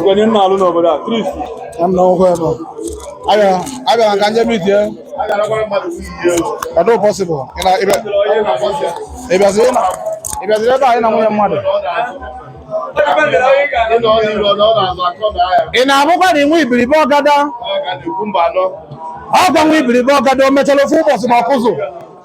onye nna alụ n'obodo a chris abịara ka njem itie ọ dị possible ịbịaziri ebe anyị na nwunye mmadụ ị na-abụkwa na inwe ibiribe ọgada ọkwa nwa ibiribe ọgada o mechara ofu ụbọchị ma ọkụzụ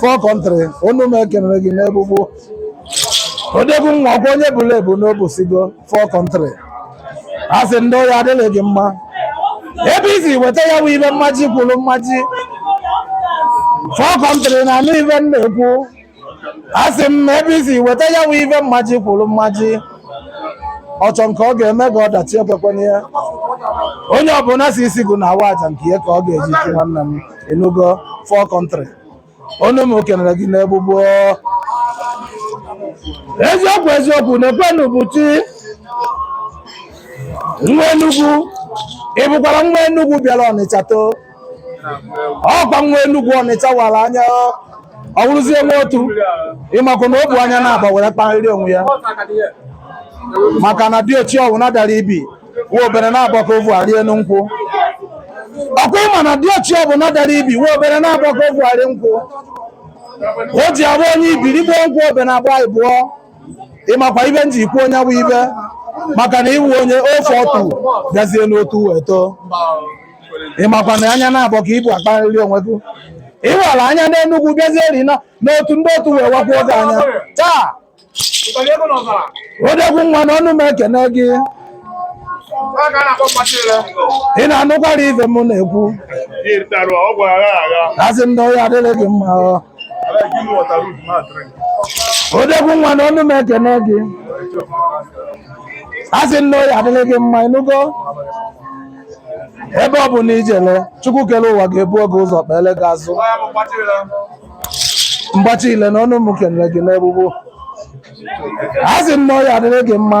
for country ọnụ m ekenere gị n'ebugbu odegwu nwa ọkwa onye bulu ebu n'obusigo for country asị m na ọ ya-adịrị gị mma ebe i si weta ya bụ ive mmaji kwuru mmaji for country ị na-anụ ive m na-ekwu asị m ebe i si weta ya bụ ive mmaji kwuru mmaji ọ chọ nke ọ ga-eme gị ọdachi ekwekwana ya onye ọbụla sị isi gụ na awa aja nke ya ka ọ ga-eji chụ nwanne m ị nụgo for country ọnụ m ekenere gị n'egbugbo eziokwu eziokwu na-ekwenu buchi nwa enugwu ị bụkwara nwa enugwu bịara ọnịcha too ọkwa nwa enugwu ọnịcha wara anya ọ wụrụzie nwa otu ị makwa na o bu anya na-agba were kparịrị onwe ya maka na diochi ọwụna dara ibi nwa obere na agba ka o vu arị enu nkwụ ọkwa ị ma na diochi ọbụla dara ibi nwa obere na agba ka o vu arị nkwụ o ji abụ onye ibi rigbuo nkwụ obe na agba ịbụọ ị makwa ive m ji ekwu onye bụ ive maka na ị wụ onye ofe otu bịazie n'otu wee too ị makwa na anya na-agba ka i bu akparịrị onwe gị ị wara anya n'enugwu bịazieri n'otu ndị otu wee wakwuo gị anya taa odegwu nwa na ọnụ m ekene gị ị na-anụkwara ife m na-ekwu asị m na ọ ya-adịrị gị mma o odegwu nwa na ọnụ m ekene gị asị m na ọ ya-adịrị gị mma ị nụgo ebe ọ bụ na ijele chukwu kere ụwa ga-ebuo gị ụzọ kpele gị azụ mgbachi ile na ọnụ m kenere gị n'egbugbo asị m na ọ ya-adịrị gị mma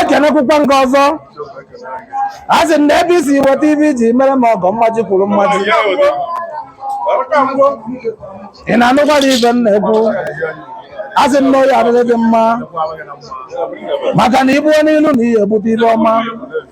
ekenekwukwa nke ọzọ asị m na ebe i si weta ive i ji mere m ọgọ mmaji kwuru mmaji ị na-anụkwara ive m na-ekwu asị m na ọ ya-adịrị gị mma maka na i buo n'ilu na ị ya-ebute ive ọma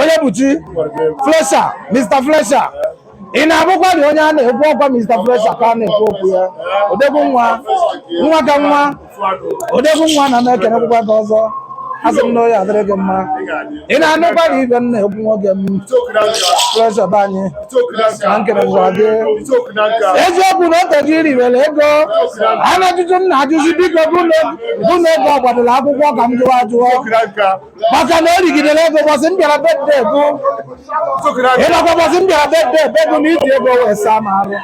onyebuchi flesha mr flesha ị na-abụkwa na onye a na-ekwu ọkwa mr flesha ka a na-ekwu okwu ya odegwu nwa nwa ka nwa odegwu nwa na m ekenekwukwa gị ọzọ asị m na ọ ya-adịrị gị mma ị na-anụkwa na ibe m na-ekwu nwoke m flesha be anyị na nkere gwa gị eziokwu na o tego i riwere ego ana ajụjụ m na-ajụzi biko bụ na ego ọ gbadoro akwụkwọ ka m jụwa ajụọ maka na o rigidere ego bọsị m bịara birthday gị ịnakwa bọsị m bịara birthday gị na iji ego wee saa m arụ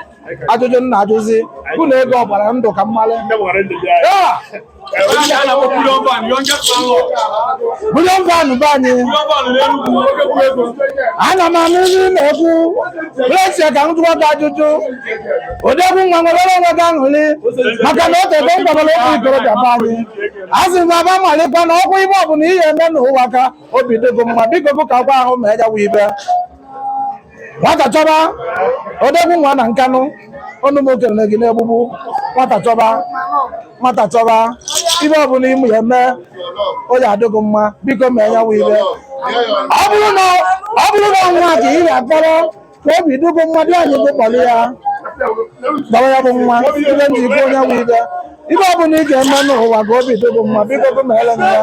ajụjụ m na-ajụzi bụ na ego ọ gbara ndụ ka m malị bulion van be anyị ana m anụ ndị na-ekwu blesi ka m jụọ gị ajụjụ odegwu nwa nwere onwe gị aṅụrị maka na o tego m gwabara ụmụ ikorobịa be anyị asị m aba malịkwa na ọkwa ibe ọbụla ị ya-eme n'ụwa ka obi dị gị mma biko bụ ka gwa ahụ mee ya wụ ibe nwata chọba odegwu nwa na nkanụ ọnụ m okenere gị n'egbugbu nwata chọba nwata chọba ibe ọbụla ị ya-eme ọ ya-adị gị mma biko mee ya wụ ibe ọ bụrụ na nwa ka ị ga-akpọrọ ka obi dị gị mma dị anyị gị kpọrọ ya gbara ya bụ nwa ibe ndị ibe onye bụ ibe ibe ọ bụla ị ga-eme n'ụwa ka obi dị gị mma biko gị mele ya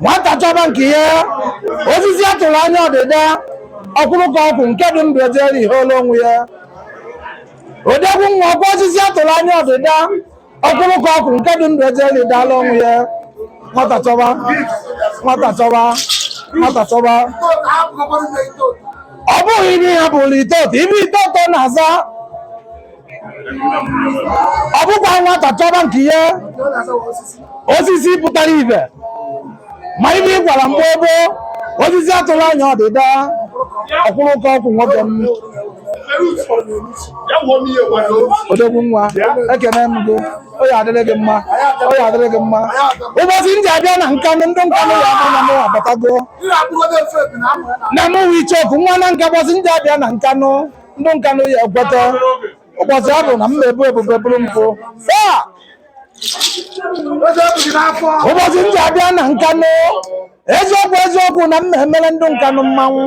nwata chọba nke ya osisi a tụrụ anya ọdịda ọ kwụrụ ka ọ kwụ nke dị ndụ ejere ihe olu onwe ya odegwu nwa ọkwa osisi a tụrụ anya ọdịda ọ kwụrụ ka ọ kwụ nke dị ndụ ejere idala onwe ya nwata chọba nwata chọba nwata chọba ọ bụghị ibe ya bụrụ itoto ibe itoto na-aza ọ bụkwa nwata chọba nke ihe osisi pụtara ibe ma ibe ị gwara mgbe gboo osisi a tụrụ anya ọdịda ọ kwụrụ ka ọ kwụ nwoke m odogwu nwa ekene m gị ọ ya-adịrị gị mma ọ ya-adịrị gị mma ụbọchị m ji abịa na nkanụ ndị nkanụ ya-ama na mụ abatago na mụ wụ ichoku nwa na nka ụbọchị m ji abịa na nkanụ ndị nkanụ ya ekweta ụbọchị ọ bụ na m na-ebu ebube bụrụ mpụ saa ụbọchị m ya abịa na nkanụ eziokwu eziokwu na m na-emere ndị nkanụ mmanwụ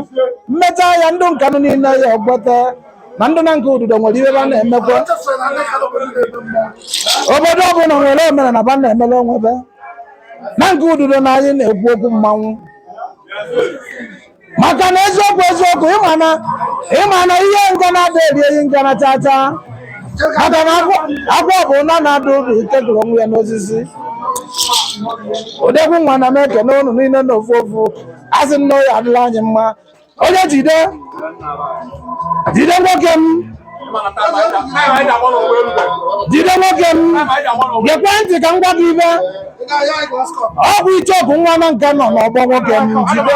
m mecha ya ndị nkanụ niile ya ekweta na ndị nanka ududo nwere ihe ba na-emekwa obodo ọbụla nwere omenala ba na-emere onwe ba nanka ududo na anyị na-ekwu okwu mmanwụ maka na eziokwu eziokwu ị ma na ị ma na ihe ngana adị eri ehi ngana chacha maka na agwọ bụ na na-adụ ụdụ ike gụrụ onwe ya n'osisi odegwu nwanna m ekene unu niile na ofu ofu asị m na ọ ya adịrị anyị mma onye jide jide nwoke m jide nwoke m gekwe ntị ka m gwa gị ibe ọ bụ icheoku nwa nanka nọ n'ọgbọ nwoke m jide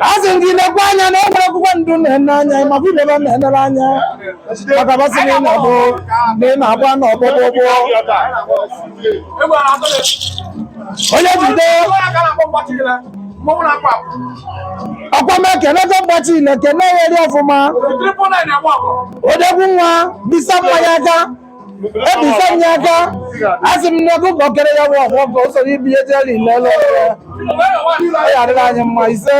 asị m gị lekwa anya na o nwere akwụkwọ ndụ na-ene anya ị makwa ihe ba na-enere anya maka ba sị na ị na-abụ na ị na-agba na ọgbọgbọgbọ onye jide ọkwa m ekenego mgbachi ile kene ya eri ọfụma odegwu nwa bisa m ya aka ebisa m ya aka asị m n'ego ka okere ya bụ ọgwụ ọgụ o soro ibe ya jeri ile ele ọ ya adịrị anyị mma ise